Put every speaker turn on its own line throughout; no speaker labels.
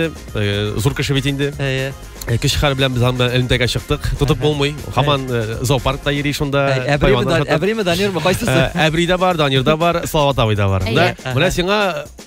Э, зур кеше бит инде әйе э, кеше хәл белән без анда элемтәгә чыктык тотып булмый хаман э, зоопаркта йөри шунда әбриме данирмы кайсысы әбри дә бар данир да бар салават абый да бар да менә сиңа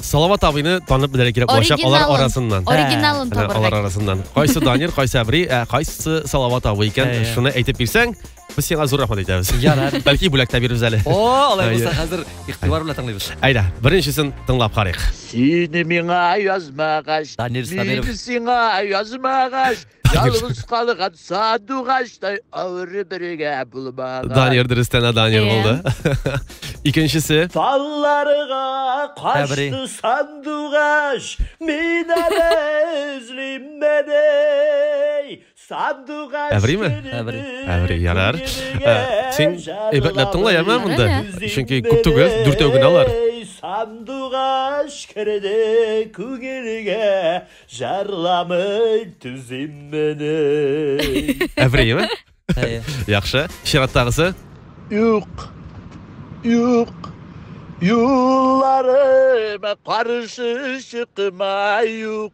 салават абыйны танып белергә кирәк булачак алар арасыннан оригиналын табарга алар арасыннан кайсы данир кайсы әбри кайсы салават абый икән шуны әйтеп бирсәң Без сиңа зур рәхмәт әйтәбез. Ярар. Бәлки бүләк тә бирербез әле. О, алай булса хәзер игътибар белән тыңлыйбыз. Әйдә, беренчесен тыңлап карыйк. Сине миңа язмагач, Данир Сабиров. мине сиңа язмагач, ялгыз калган сандугачтай авыры бергә булмагач. Данир дөрестән дә Данир Иә. булды. Икенчесе. Талларга Тәбри. качты сандугач, мин әле эзлим меней. Әвриме? Әври. Әври, ярар. Ә, син әйбәтләп тыңла, яме монда. Чөнки күп түгел, дүртәү генә алар. Сандугач керде күңелгә, жарламый түзим мени. Әвриме? Яхшы. Чираттагысы? Юк. Юк. Юлларыма каршы чыкма юк.